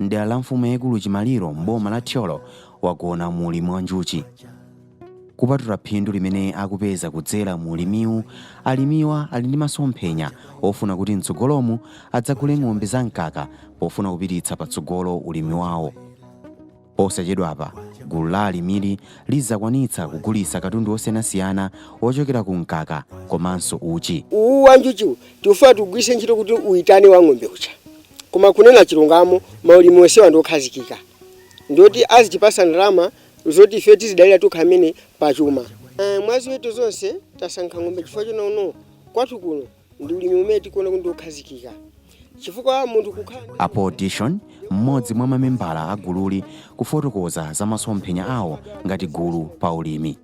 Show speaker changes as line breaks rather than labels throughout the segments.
m'dera la mfumu yaikulu Chimaliro m'boma la Thyolo wagona mu ulimi wa njuchi. Kupatula phindu limene akupeza kudzera mu ulimiwu, alimiwa ali ndi masomphenya ofuna kuti mtsogolomu adzagule ng'ombe za mkaka pofuna kupititsa patsogolo ulimi wawo. Posachedwapa, gulu la alimili lidzakwanitsa kugulitsa katundu wosiyanasiyana wochokera ku mkaka komanso uchi. Uwuwu wa njuchiwu
tikufuna tiugwiritse ntchito kuti uitane wa ng'ombe uja. Koma kunena chilungamo maulimi osewa ndi okhazikika ndioti azitipasa ndalama zoti ife tizidalira tokha amene pa chuma. Mwa ziweto zonse tasankha ng'ombe chifukwa chonena kuti kwathu kuno ndi ulimi umene tikuona kuti ndi okhazikika chifukwa munthu kukhala ndi. A Paul
Dishon, m'modzi mwa mamembala a gululi kufotokoza za masomphenya awo ngati gulu pa ulimi.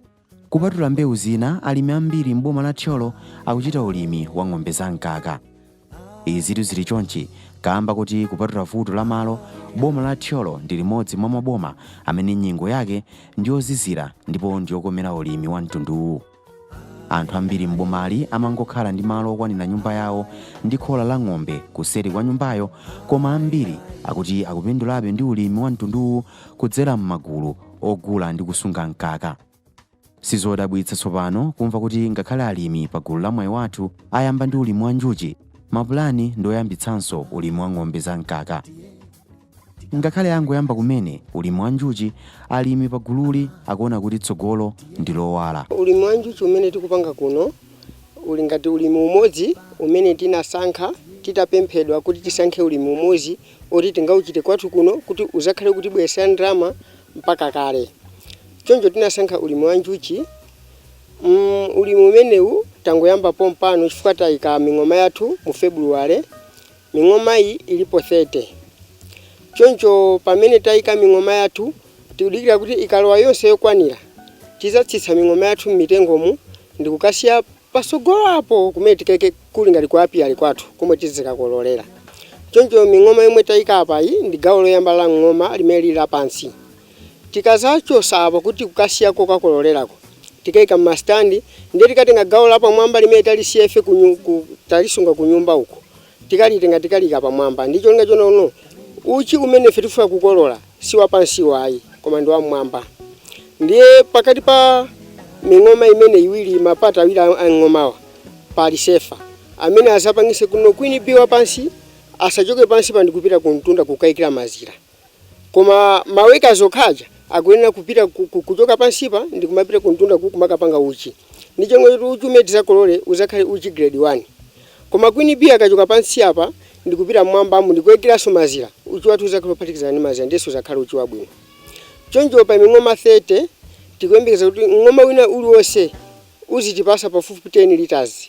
Kupatula mbewu zina, alimi ambiri m'boma la Thyolo akuchita ulimi wa ng'ombe za mkaka. Izitu zili chonchi kaamba kuti kupatula vuto la malo, boma la Thyolo ndi limodzi mwa maboma amene nyengo yake ndiyozizira ndipo ndiyokomera ulimi wa mtunduwu. Anthu ambiri m'bomali amangokhala ndi malo okwanira nyumba yawo ndi khola la ng'ombe kuseri kwa nyumbayo koma ambiri akuti akupindulabe ndi ulimi wa mtunduwu kudzera m'magulu ogula ndi kusunga mkaka. Sizodabwitsa tsopano kumva kuti ngakhale alimi pa gulu la Mwayi Wathu ayamba ndi ulimi wa njuchi, mapulani ndi oyambitsanso ulimi wa ng'ombe za mkaka. Ngakhale angoyamba kumene ulimi wa njuchi, alimi pa gululi akuona kuti tsogolo ndi lowala. Ulimi wa njuchi umene
tikupanga kuno uli ngati ulimi umodzi umene tinasankha titapemphedwa kuti tisankhe ulimi umodzi oti tingauchite kwathu kuno kuti uzakhale ukutibwesa ndalama mpaka kale choncho tinasankha ulimi wa njuchi ulimi umenewu tangoyamba pompano chifukwa tayika ming'oma yathu mu february ming'oma iyi ilipo 30 choncho pamene tayika ming'oma yathu tikudikira kuti ikalowa yonse yokwanira tizatsitsa ming'oma yathu m'mitengomu ndikukasiya Pasogolo apo kumene tikaike kuli ngati ku apiary kwathu komwe tizikakololera. Choncho ming'oma yomwe taika apayi ndi gawo loyamba la mng'oma limene lili lapansi. Tikazachosa apo kuti kukasiya kokakololelako, tikaika m'ma stand ndiye tikatenga gawo lapamwamba limene talisiya ife talisunga kunyumba uko. Tikalitenga tikaliika pamwamba ndi cholinga chonena kuti uchi umene ife tikufuna kukolola si wapansiwu ayi koma ndi wam'mwamba. Ndiye pakati pa ming'oma imene iwiri, ma part awiri a mng'omawa pali sefa amene azapangise kuti queen bee wapansi asachoke pansipa ndi kupita kumtunda kukaikira mazira. Koma ma workers okha aja akuyenera kupita kuchoka pansipa ndikumapita kumtunda ku kumakapanga uchi. Ndicholinga choti uchi umene tizakolore uzakhale uchi grade 1. Koma queen bee akachoka pansi apa ndikupita mmwambamu ndikuikiranso mazira, uchi wathu uzakhale ophatikizana ndi mazira ndiye suzakhala uchi wabwino. Choncho pa ming'oma 30 tikuyembekeza kuti mng'oma wina uliwonse uzitipasa pafupifupi 10 litres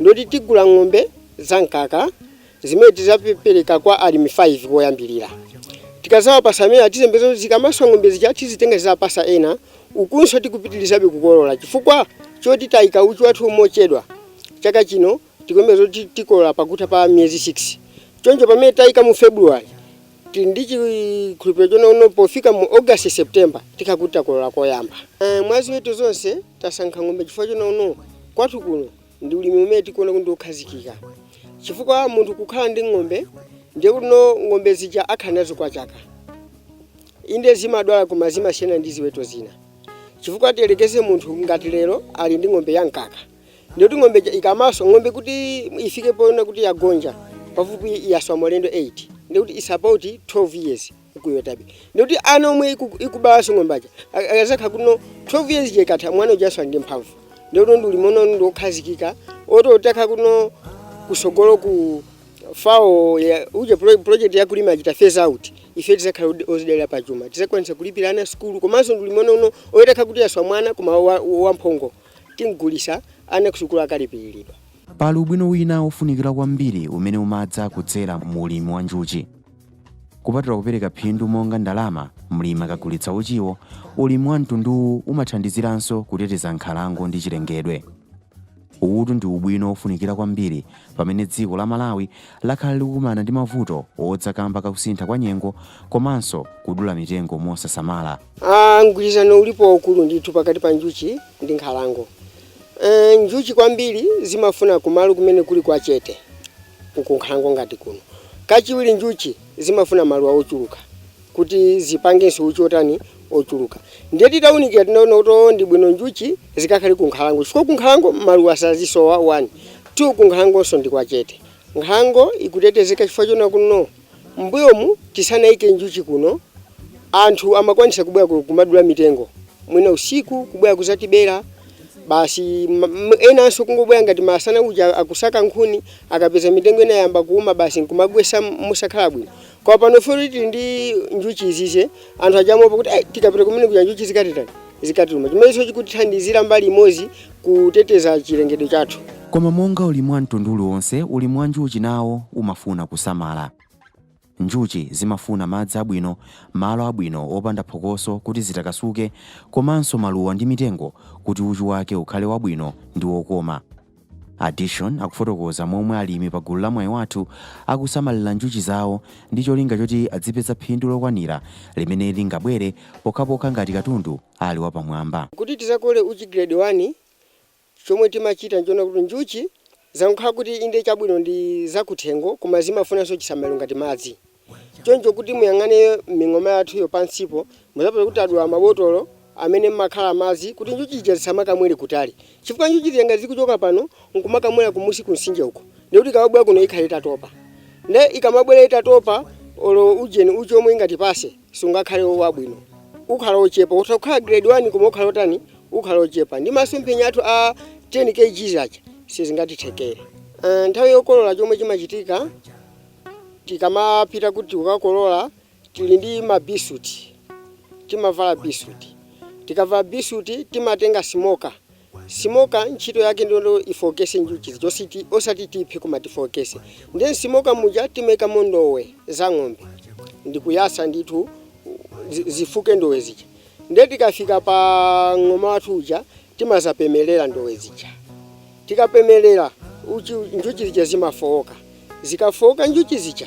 ndoti tigula ng'ombe za mkaka zimene tizapereka kwa alimi 5 koyambirira. Tikazawapasa amenewa tiyembekeza kuti zikamaswa ng'ombe zija tizitenga tizapasa ena, ukunso tikupitirizabe kukolola chifukwa choti tayika uchi wathu mochedwa. Chaka chino tikuyembekeza kuti tikolola pakutha pa miyezi 6. Choncho pamene tayika mu February, Tili ndi chikhulupiliro chonena kuti pofika mu August, September tikhala kuti takolola koyamba. Mwa ziweto zonse tasankha ng'ombe chifukwa chonena kuti kwathu kuno ndi ulimi umene tikuona kuti ndi okhazikika chifukwa munthu kukhala ndi ng'ombe ndiye kuti ng'ombe zija akhala nazo kwa zaka. Inde zimadwala koma zimasiyana ndi ziweto zina chifukwa tiyelekeze munthu ngati lero ali ndi ng'ombe ya mkaka. ndikuti ng'ombe ija ikamaswa ng'ombe kuti ifike poona kuti yagonja pafupi yaswa maulendo 8 ndikuti it's about 12 years ikuswabe ndikuti ana omwe iku- ikubalanso ng'ombe aja a- akazakhala kuti 12 years ija ikatha mwana ujanso ali ndi mphamvu ndikuti ndi ulimi wina wake wokhazikika oti atakhala kuti kusogolo ku FAO ya- uje pro- project ya kulima achita phase out ife tizakhala odi- ozidalira pa chuma tizakwanisa kulipira ana sukulu komanso ndi ulimi uno uno oti itakhala kuti yaswa mwana koma wa- wa- wamphongo Tim'gulitsa ana kusukulu akalipiridwa. Pali
ubwino wina wofunikira kwambiri umene umadza kudzera mu ulimi wa njuchi. Kupatula kupereka phindu monga ndalama mlimi akagulitsa uchiwo, ulimi wa mtunduwu umathandiziranso kuteteza nkhalango ndi chilengedwe. Uwutu ndi ubwino wofunikira kwambiri pamene dziko la Malawi lakhala likukumana ndi mavuto odza kamba kakusintha kwa nyengo komanso kudula mitengo mosasamala. Ah,
mgwirizano ulipo waukulu ndithu pakati pa njuchi ndi nkhalango. E, njuchi kwambiri zimafuna kumalo kumene kuli kwa chete kunkhalango ngati kuno. Kachiwiri njuchi zimafuna maluwa ochuluka kuti zipangenso uchi otani ochuluka. Ndiye titaunikira tinaona kuti oh, ndi bwino njuchi zikakhale ku nkhalango chifukwa ku nkhalango maluwa sasowa 1 2 ku nkhalangonso ndi kwa chete. Nkhalango ikutetezeka chifukwa chonena kuti M'mbuyomu tisanaike njuchi kuno, anthu amakwanitsa kubwera kumadula mitengo mwina usiku kubwera kuzatibera basi enanso kungobwera ngati masana uja akusaka nkhuni akapeza mitengo ina yayamba kuuma basi nkumagwetsa mosakhala bwino. Koma pano poti tili ndi njuchi izizi anthu aja amaopa kuti ai tikapita kumene kuja njuchi zikatitani, zikatiluma. Chimenecho chikutithandizira mbali imodzi kuteteza chilengedwe chathu. Koma monga ulimi
wa mtundu uliwonse, ulimi wa njuchi nawo umafuna kusamala. Njuchi zimafuna madzi abwino, malo abwino opanda phokoso kuti zitakasuke, komanso maluwa ndi mitengo kuti uchi wake ukhale wabwino ndi wokoma. Addition akufotokoza momwe alimi pa gulu la Mwayi Wathu akusamalira njuchi zawo ndi cholinga choti adzipeza phindu lokwanira limene lingabwere pokhapokha ngati katundu ali wapamwamba. Kuti tizakole
uchi grade 1, chomwe timachita nchoona kuti njuchi zangokhala kuti inde chabwino ndi zakuthengo koma zimafunanso chisamaliro ngati madzi. Choncho kuti muyang'ane ming'oma yathuyo pansipo muzapeza kuti tadula mabotolo amene mmakhala madzi kuti njuchi zija zisamakamwere kutali chifukwa njuchi zija ngati zikuchoka pano nkumakamwera kumunsi kumsinje uko ndiye kuti ikamabwera kuno ikhala itatopa. Ndiye ikamabwera itatopa olo ujeni, uchi omwe ingatipase. sungakhale wabwino ukhala ochepa utha kukhala grade 1 koma ukhala otani ukhala ochepa ndi masomphenya athu a 10 kgs aja sangatithekere uh, nthawi yokolola chomwe chimachitika tikamapita kuti ukakolola tili ndi mabisuti timavala bisuti tikavala bisuti timatenga simoka Simoka ntchito yake ndi yoti ifokese njuchi zija ositi osati tiphe koma tifokese ndiye msimoka muja timaikamo ndowe za ng'ombe ndikuyasa ndithu zi zifuke ndowe zija ndiye tikafika pa ng'oma wathu uja timazapemelera ndowe zija tikapemelera uchi njuchi zija zimafooka zikafooka njuchi zija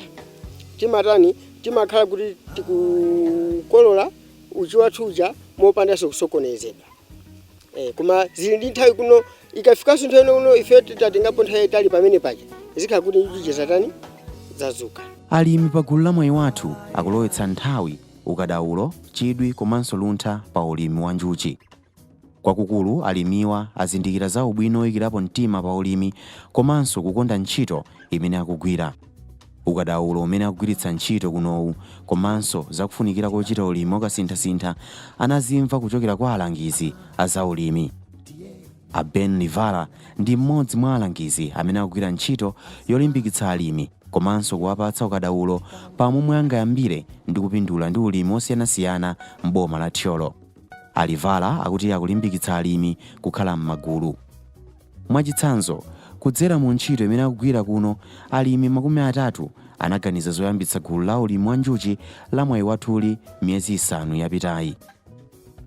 timatani timakhala kuti tikukolola uchi wathu uja mopandaso kusokonezedwa. Eh, koma zili ndi nthawi kuno ikafikanso nthawi ino kuno ife titatengapo nthawi yayitali pamene paja zikhala kuti njuchi zatani zadzuka alimi pa gulu
la mwayi wathu akulowetsa nthawi ukadaulo chidwi komanso luntha pa ulimi wa njuchi kwakukulu alimiwa azindikira za ubwino woyikirapo mtima pa ulimi komanso kukonda ntchito imene akugwira ukadaulo umene akugwiritsa ntchito kunowu komanso za kufunikira kochita ulimi wakasinthasintha anazimva kuchokera kwa alangizi a zaulimi. A Ben Livala ndi mmodzi mwa alangizi amene akugwira ntchito yolimbikitsa alimi komanso kuwapatsa ukadaulo pa momwe angayambire ndi kupindula ndi ulimi wosiyanasiyana m'boma la Thyolo. A Livala akuti akulimbikitsa alimi kukhala m'magulu. Mwachitsanzo, kudzera mu ntchito imene akugwira kuno, alimi makumi atatu anaganiza zoyambitsa gulu la ulimi wa njuchi la Mwayi Wathu-li miyezi isanu yapitayi.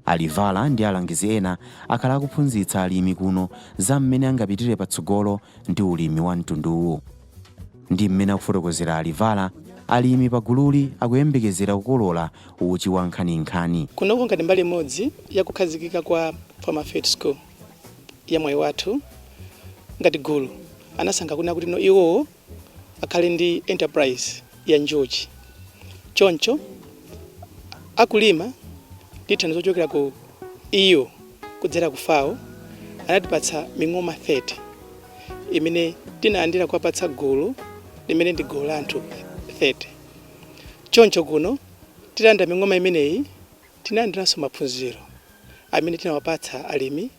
A Livala ndi alangizi ena akhala akuphunzitsa alimi kuno za mmene angapitire patsogolo ndi ulimi wa mtunduwu. Ndi mmene akufotokozera a Livala, alimi pa gululi akuyembekezera kukolola uchi wa nkhaninkhani. Kunoku ngati mbali
imodzi ya kukhazikika kwa Farmer Field School. ya mwayi wathu ngati gulu anasankha kunena kuti no iwowo akhale ndi enterprise ya njuchi choncho akulima ndi thandizo lochokera ku EU kudzera ku FAO anatipatsa ming'oma 30 imene tinalandira kuwapatsa gulu limene ndi gulu la anthu 30 choncho kuno titalandira ming'oma imeneyi tinalandiranso maphunziro amene tinawapatsa alimi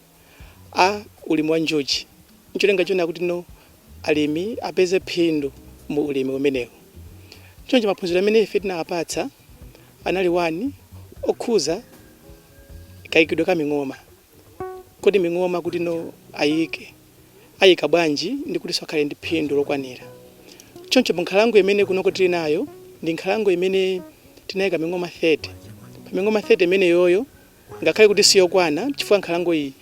a ulimi wa njuchi n'cholinga chonena kuti no alimi apeze phindu mu ulimi umenewu. Choncho maphunziro amene ife tinawapatsa anali 1 okhuza kaikidwe ka ming'oma, kodi ming'oma kuti no ayike. ayika bwanji ndi kutinso akhale ndi phindu lokwanira. Choncho mu nkhalango imene kunoko tili nayo ndi nkhalango imene tinayika ming'oma 30. Pa ming'oma 30 imeneyoyo ngakhale kuti siyokwana chifukwa nkhalango iyi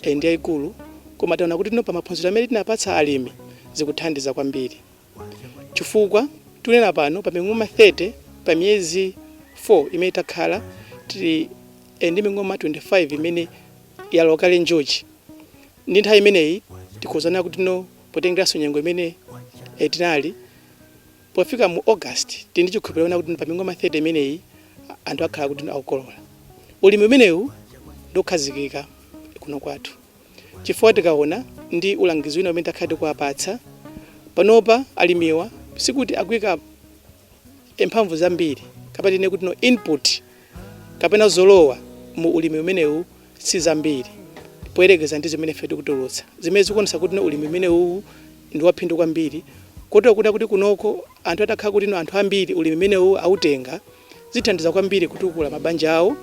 eh, ndi yayikulu koma taona kuti tino pa maphunziro amene tinapatsa alimi zikuthandiza kwambiri chifukwa tunena pano pa ming'oma 30 pa miyezi 4 imene takhala tili eh, ndi ming'oma 25 imene yalowa kale njuchi Ndi nthawi imeneyi tikhoza kunena kuti no potengeranso nyengo imene eh, tinali pofika mu August tili ndi chikhulupiriro kunena kuti no pa ming'oma 30 imeneyi a- anthu akhala kuti no akukolola. Ulimi umenewu ndi okhazikika kuno kwathu chifukwa tikaona ndi ulangizi wina umene takhala tikuwapatsa panopa alimiwa sikuti akuika e mphamvu zambiri kapena tinene kuti no input kapena zolowa mu ulimi umenewu si zambiri poyerekeza ndi zimene ife tikutulutsa zimene zikuonesa kuti no ulimi umenewu ndi waphindu kwambiri kotero kunena kuti kunoko anthu atakhala kuti no anthu ambiri ulimi umenewu autenga zithandiza kwambiri kutukula mabanja awo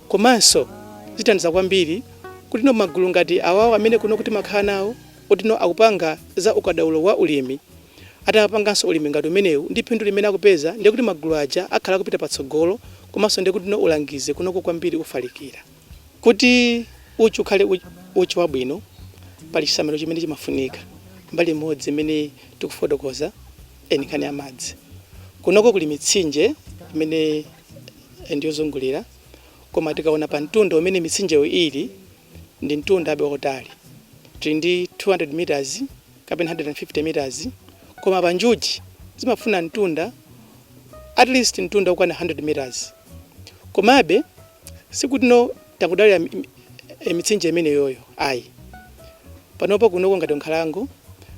komanso zithandiza kwambiri kuti no magulu ngati awawo amene kunoko timakhala nawo kuti no akupanga za ukadaulo wa ulimi Atamapanganso ulimi ngati umenewu ndi phindu limene akupeza ndiye kuti magulu aja akhala akupita patsogolo komanso ndiye kutino ulangizi kunoko kwambiri ufalikira. Kuti uchi ukhale uchi wabwino pali chisamaliro chimene chimafunika. Mbali imodzi imene tikufotokoza eh ndi nkhani ya madzi. Kunoko kuli mitsinje imene ndi yozungulira koma tikaona pa mtunda umene mitsinjeyo ili ndi mtunda be wautali. Tili ndi 200 meters. kapena 150 meters koma pa njuchi zimafuna mtunda at least mtunda okwana 100 meters komabe sikuti no takudalira mitsinje imeneyoyo ayi panopo kunoko ngati nkhalango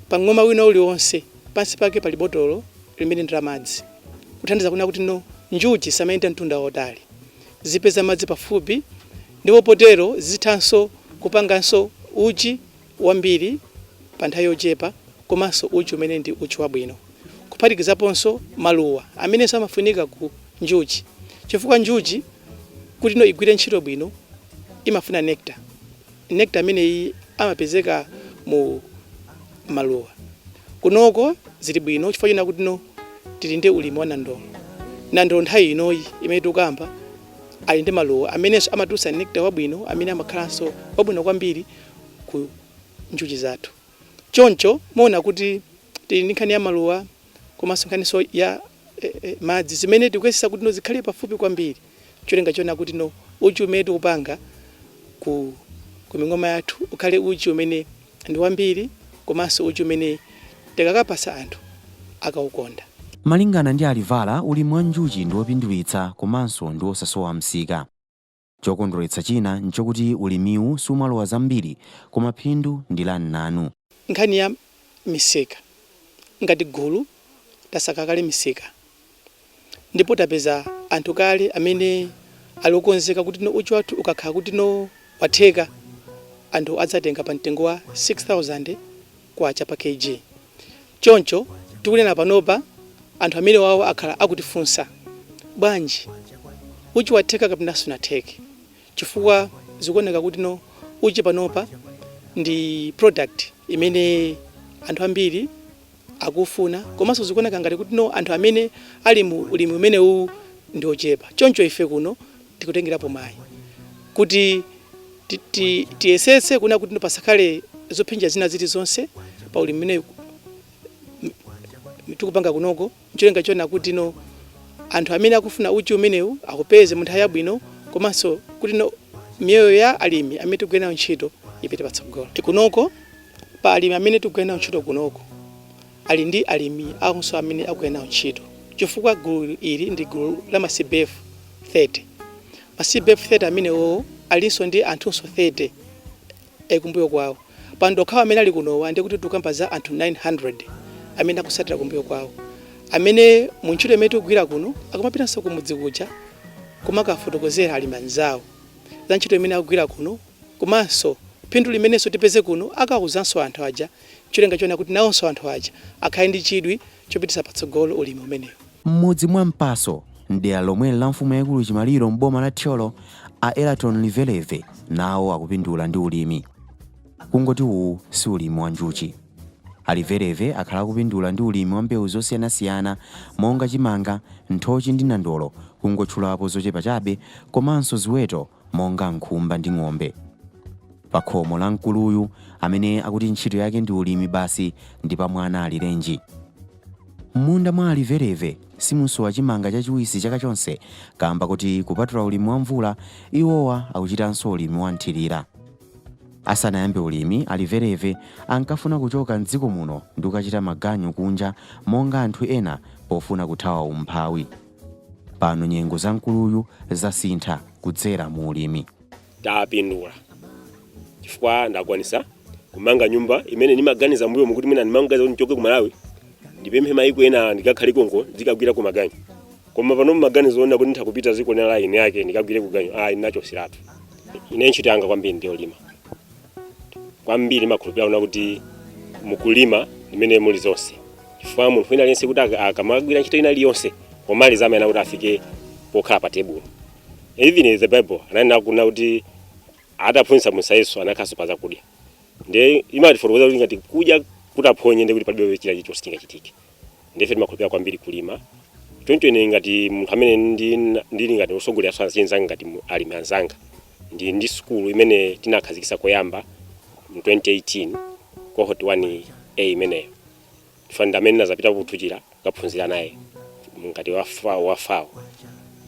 pa ng'oma ina iliyonse pansi pake pali botolo limene ndi la madzi kuthandiza kuona kuti no njuchi zisamayende mtunda wautali zipeze madzi pafupi ndipo potero zithanso kupanganso uchi wambiri pa nthawi yochepa komanso uchi umene ndi uchi wabwino kuphatikizaponso maluwa amenenso amafunika ku njuchi chifukwa njuchi kuti no igwire ntchito bwino imafuna nectar. Nectar ameneyi amapezeka mu maluwa. Kunoko zili bwino chifukwa china kuti no tili ndi ulimi wa nandolo. Nandolo nthawi inoyi imene tikukamba ali ndi maluwa amenenso amatulutsa nectar wabwino amene amakhalanso wabwino kwambiri ku njuchi zathu. Choncho muona kuti tili ndi nkhani ya maluwa komanso nkhaninso ya madzi zimene tikuyesetsa kuti no zikhale pafupi kwambiri cholinga choona kuti no uchi umene tikupanga ku ku ming'oma yathu ukhale uchi umene ndi wambiri komanso uchi umene tikakapatsa anthu akaukonda. Malingana
ndi a Livala, ulimi wa njuchi ndi wopindulitsa komanso ndi wosasowa msika. Chokondweretsa china nchokuti ulimiwu sumalowa zambiri koma phindu ndi la mnanu. Nkhani ya
misika, Ngati gulu tasaka kale misika ndipo tapeza anthu kale amene ali okonzeka kuti no uchi wathu ukakhala kuti no watheka, anthu adzatenga pa mtengo wa K6000 pa Kg. Choncho tikunena panopa anthu amenewawo akhala akutifunsa, Bwanji uchi watheka kapena sunatheke? Chifukwa zikuoneka kuti no uchi panopa ndi product imene anthu ambiri akuufuna komanso zikuoneka ngati kuti no anthu amene ali mu ulimi umenewuwu ndi ochepa. Choncho ife kuno tikutengerapo mwayi kuti ti- ti- tiyesetse kuona kuti pasakhale zophinja zina zilizonse pa ulimi umene tikupanga kunoko cholinga choona kuti no anthu amene akufuna uchi umenewu akaupeze mu nthawi yabwino komanso kuti no miyoyo ya alimi amene tikugwira nawo ntchito ipite patsogolo kunoko pa alimi amene tikugwira nawo ntchito kunoko ali ndi alimi awonso amene akugwira nawo ntchito chifukwa gulu ili ndi gulu la ma CBF 30. Ma CBF 30 amenewowo alinso ndi anthunso 30 kumbuyo kwawo. Pano tokhawa amene ali kunowa ndiye kuti tikukamba za anthu 900 amene akutsatira kumbuyo kwawo amene mu ntchito imene tikugwira kuno akumapitanso kumudzi kuja kumakafotokozera alimi anzawo za ntchito imene akugwira kuno komanso phindu limenenso tipeze kuno akawuzanso anthu aja N'cholinga chowona kuti nawonso anthu aja akhale ndi chidwi chopititsa patsogolo ulimi umenewu. M'mudzi mwa Mpaso
m'dera lomweli la mfumu yaikulu Chimaliro m'boma la Thyolo, a Eraton Liveleve nawo akupindula ndi ulimi. Kungoti uwu si ulimi wa njuchi. A Liveleve akhala akupindula ndi ulimi wa mbewu zosiyanasiyana monga chimanga, nthochi ndi nandolo kungotchulapo zochepa chabe komanso ziweto monga nkhumba ndi ng'ombe. Pakhomo la mkuluyu amene akuti ntchito yake ndi ulimi basi ndi pa mwana alirenji. M'munda mwa a Liveleve simusowa chimanga chachiwisi chaka chonse kaamba kuti kupatula ulimi wa mvula, iwowa akuchitanso ulimi wa mthirira. Asanayambe ulimi, a Liveleve ankafuna kuchoka m'dziko muno ndi kukachita maganyu kunja monga anthu ena pofuna kuthawa umphawi. Pano nyengo za mkuluyu zasintha kudzera mu ulimi.
Tapindula chifukwa ndakwanitsa kumanga nyumba imene nimaganiza mbuyomu kuti mwina ndimangaza kuti nchoke ku Malawi ndipite maiko ena ndikakhale konko ndikagwireko maganyu koma pano maganizo onena kuti nditha kupita dziko lina lake ndikagwireko ganyu ayi ndinachotseratu ine ntchito yanga kwambiri ndi yolima kwambiri ndimakhulupirira kunena kuti mukulima ndi mmene muli zonse chifukwa munthu wina aliyense kuti aka- akamagwira ntchito ina iliyonse pomaliza amayenera kuti afike pokhala pa tebulo even the bible ananena kunena kuti ataphunzitsa muja Yesu anakhalanso pa zakudya ndiye imatifotokoza kuti ngati kudya kutaphonye ndiye kuti palibe china chilichonse chingachitike ndiye ife timakhulupirira kwambiri kulima choncho ine ngati munthu amene ndi- ndili ngati otsogoleranso anzanga anga ngati mu- alimi anzanga ndi ndi sukulu imene tinakhazikitsa koyamba mu 2018 cohort 1 a imeneyo chifukwa ndi amene ndinazapita kuthuchira kukaphunzira naye ngati wa FA- wa FAO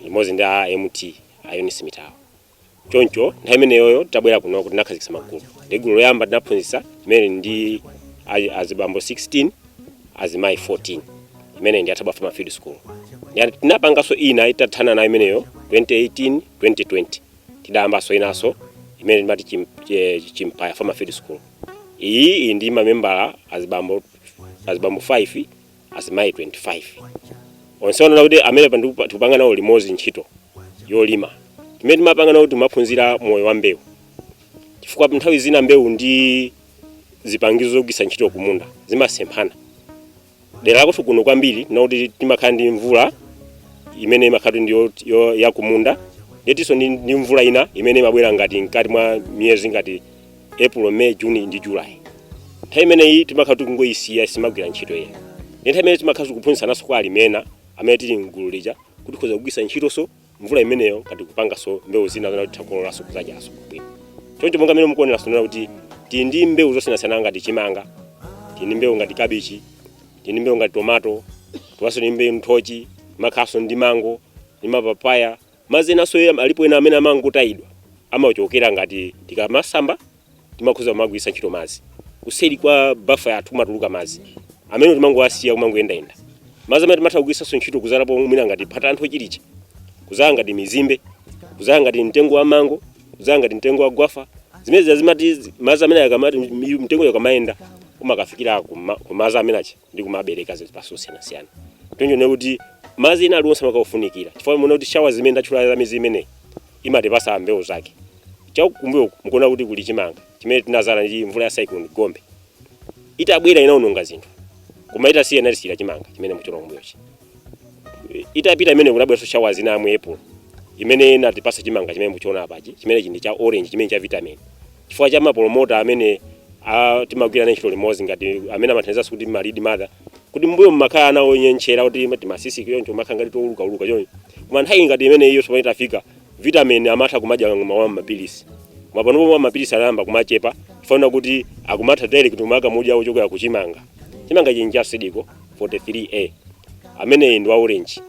limodzi ndi a mt a Eunice Mitala choncho nthawi imeneyoyo tabwera kunoko tinakhazikitsa magulu ndi gulu loyamba tinaphunzitsa imene ndi a- azibambo 16 azimayi 14 imene ndi a Thabwa farmer field school Ndi- tinapanganso ina itathana nayo imeneyo 2018 2020 tidayambanso inanso imene timati chim- eh, Chimpaya farmer field school Iyi ili ndi mamembala azibambo 5 azimayi 25 onsewo kunena kuti amene pa ndiku- tikupanga nawo limodzi ntchito yolima timene timapanga nawo timaphunzira moyo wa mbewu chifukwa nthawi zina mbewu ndi zipangizo zogwiritsa ntchito kumunda zimasemphana dera lakenso kuno kwambiri kunena kuti timakhala ndi mvula imene imakhala ndi yo- yo- yakumunda ndiye tilinso ndi ndi mvula ina imene imabwera ngati mkati mwa miyezi ngati april may june ndi july nthawi imeneyi timakhala tikungoyisiya sitimagwira ntchito ina ndi nthawi imene timakhala tikuphunzitsananso kwa alimi ena amene tili mgulu lija kuti tikhoza kugwiritsa ntchitonso mvula imeneyo ngati tikupangaso mbewu zina kapena kuti takololanso kuzadyaso bwino choncho monga mmene mukuonera sonera kuti tili ndi mbewu zosiyanasiyana ngati chimanga tili ndi mbewu ngati kabichi tili ndi mbewu ngati tomato tilinso ndi mbewu nthochi makhalaso ndi mango ndi mapapaya madzinso alipo ena amene amangotayidwa amachokera ngati tikamasamba timakhoza kumagwiritsa ntchito madzi kuseri kwa bafa yathu kumatuluka madzi amene timangowasiya kumangoyendayenda madzi amene timatha kugwiritsanso ntchito kudzalapo mwina ngati phata la nthochi lija kudzala ngati mizimbe kudzala ngati mtengo wa mango kudzala ngati mtengo wa gwafa zimene zazimati madzi amene akamati mtengo ukamayenda umakafikira kuma- kumadzi amene aja ndi kumabereka zipatso zosiyanasiyana choncho ndiye kuti madzi ena aliwonse amakafunikira chifukwa muona kuti shawa zimene ndatchula za mizi imeneyi imatipasa mbewu zake chakumbuyo mukuona kuti kuli chimanga chimene tinadzala ndi mvula ya cyclone gombe itabwera inaononga zinthu koma itasiya inatisiyira chimanga chimene muchiona kumbuyochi itapita imene kunabweranso shawa zina ya mu April imene inatipasa chimanga chimene muchiona apachi chimanga chiji cha orange chimene cha vitamin chifukwa cha mapolomota amene a- timagwira nawo ntchito limodzi ngati amene amathandizanso kuti malidi mother kuti mbuyo mmakhala ana onyentchera kuti timasisi choncho makhala ngati toulukauluka choncho koma nthawi ngati imene iyo tsopano itafika vitamin amatha kumadya mwa mapilisi ma pano pomwe mapilisi anayamba kumachepa chifukwa kuti akumatha direct kumakamudya ochokera kuchimanga chimanga chiji cha seed co 43A ameneyi ndi wa orange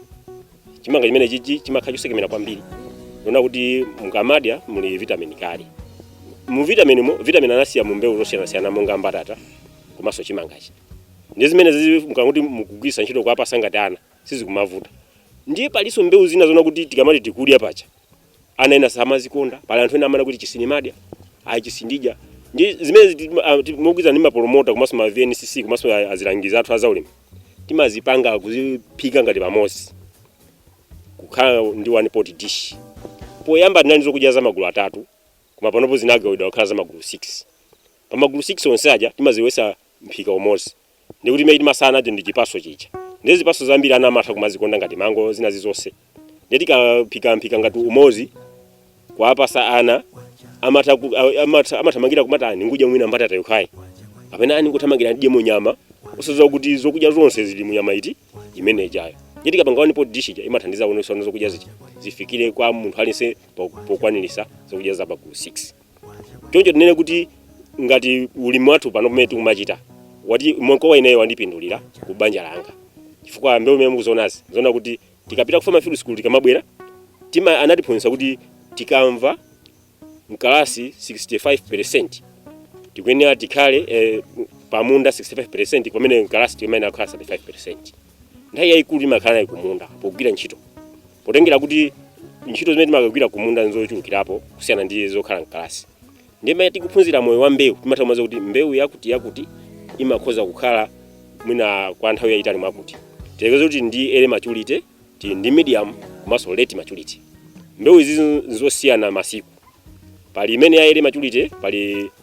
chimanga chimene chichi chimakhala chosekemera kwambiri muona kuti mukamadya muli vitamin kale mu vitamin mo vitamin anasiya mu mbewu zosiyanasiyana monga mbatata komanso chimangachi ndi zimene zizi mukakuti mukugwiritsa ntchito kuwapasa ngati ana sizikumavuta ndiye palinso mbewu zina zona kuti tikamati tikudya pacha ana ena samazikonda pali anthu ena amana kuti ichi sindimadya ayi ichi sindidya ndi zimene mogwirizana ndi mapolomota komanso ma vncc komanso a- azilangizi athu azaulimi timazipanga kuziphika ngati pamodzi kukhala ndi one pot dish poyamba tinali zokudya za magulu atatu koma panopo zinagawidwa kukhala za magulu 6 pa magulu 6 onse aja timazilowetsa mphika umodzi ndi kuti imene timatsala nacho ndi chipaso chija ndi zipaso zambiri ana amatha kumazikonda ngati mango zina zizonse ndi tikaphikaphika ngati umozi kuwapasa ana amatha ku- a- amatha- amathamangira kumatani kudya mwina mbatata yokhayi kapena ani kuthamangira ndidye nyama osadziwa kuti zokudya zonse zili munyama iti imene ijayo ndi tikapanga one pot dish ija imathandiza kuonesa zokudya zija zifikire kwa munthu aliyense po- pokwanirisa zokudya za magulu 6 choncho tinene kuti ngati ulimi wathu pano pamene tikumachita wati mkowa ineyo wandipindulira ku banja langa chifukwa mbewu imene mukuzionazi zona kuti tikapita ku farm field school tikamabwera tima anatiphunzitsa kuti tikamva mkalasi 65% tikuyenera tikhale eh, pamunda 65% pamene mkalasi timayenera kukhala 35% nthawi yayikulu timakhala nayo kumunda pogwira ntchito potengera kuti ntchito zimene timakagwira kumunda nzochulukirapo kusiyana ndi zokhala mkalasi ndiye pamene tikuphunzira moyo wa mbewu timatha kumadziwa kuti mbewu yakuti yakuti imakhoza kukhala mwina kwa nthawi yayitali mwakuti tiyerekeze kuti ndi early maturity ndi medium komanso late maturity mbewu izi nzosiyana masiku pali imene ya early maturity pali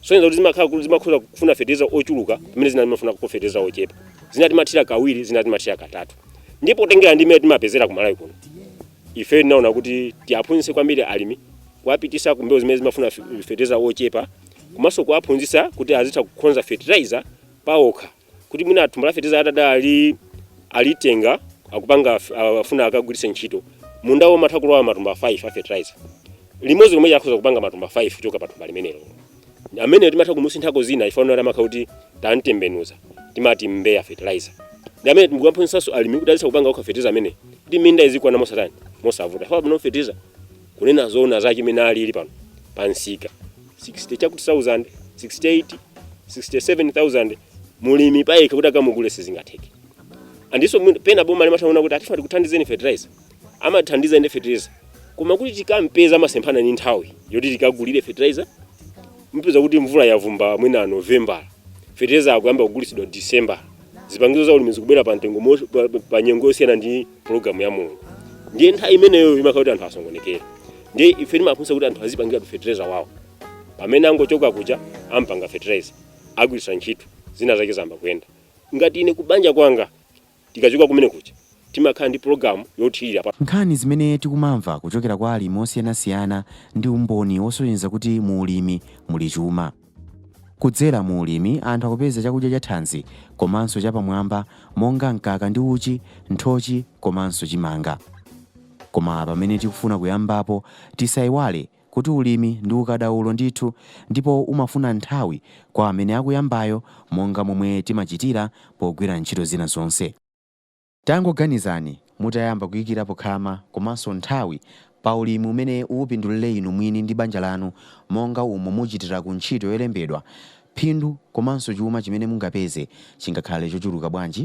Kusonyeza kuti zimakhala kuti zimakhoza kufuna feteleza ochuluka pamene zina zimafunako feteleza ochepa. Zina timathira kawiri, zina timathira katatu. Ndipo potengera ndi mmene timapezera ku Malawi kuno, ife tinaona kuti tiaphunzitse kwambiri alimi kuwapitisa ku mbewu zimene zimafuna fe- feteleza ochepa komanso kuwaphunzitsa kuti azitha kukonza fertilizer paokha kuti mwina thumba la fertilizer atati alitenga akupanga af- afuna akagwiritse ntchito munda womatha kulowa matumba 5 a fertilizer limodzi lomwelo akhoza kupanga matumba 5 kuchoka pa thumba limenelo amene timatha kumusinthako dzina ife timakhala kuti tamtembenuza timati mbeya fertilizer ndi amene tikuwaphunzitsanso alimi kuti azitha kupanga okha fertilizer amene kuti minda izikwanira mosatani mosavuta faba no fertilizer Kunena zoona zake mmene alili pano pa msika 60 chakuti thousand 68 67000 mulimi payekha kuti akamugule sizingatheke Ndiponso mwina- pena boma limatha kunena kuti a tifuna tikuthandizeni fertilizer amathandiza inde fertilizer koma kuti tikampeza amasemphana ndi nthawi yoti tikagulire fertilizer mupeza kuti mvula yavumba mwina november fertilizer akuyamba kugulitsidwa december zipangizo za ulimi zikubwera pa mtengo mo- pa- pa nyengo yosiyana ndi pulogalamu ya mulungu ndiye nthawi imeneyo imakhala kuti anthu asokonekera ndiye ife timaphunzitsa kuti anthu azipangiratu fertilizer wawo pamene angochoka kuja ampanga fertilizer agwiritsa ntchito zina zake zayamba kuyenda ngati ine kubanja kwanga tikachoka kumene kuja timakhala ndi pulogalamu yothirira pa Nkhani zimene tikumamva
kuchokera kwa alimi osiyanasiyana ndi umboni wosonyeza kuti mu ulimi muli chuma. Kudzera mu ulimi anthu akupeza chakudya cha thanzi komanso cha pamwamba monga mkaka ndi uchi, nthochi komanso chimanga. Koma pamene tikufuna kuyambapo tisayiwale kuti ulimi ndi ukadaulo ndithu ndipo umafuna nthawi kwa amene akuyambayo monga momwe timachitira pogwira ntchito zina zonse. Tangoganizani, mutayamba kuikirapo khama komanso nthawi pa ulimi umene upindulire inu mwini ndi banja lanu monga umo muchitira ku ntchito yolembedwa, phindu komanso chuma chimene mungapeze chingakhale chochuluka bwanji?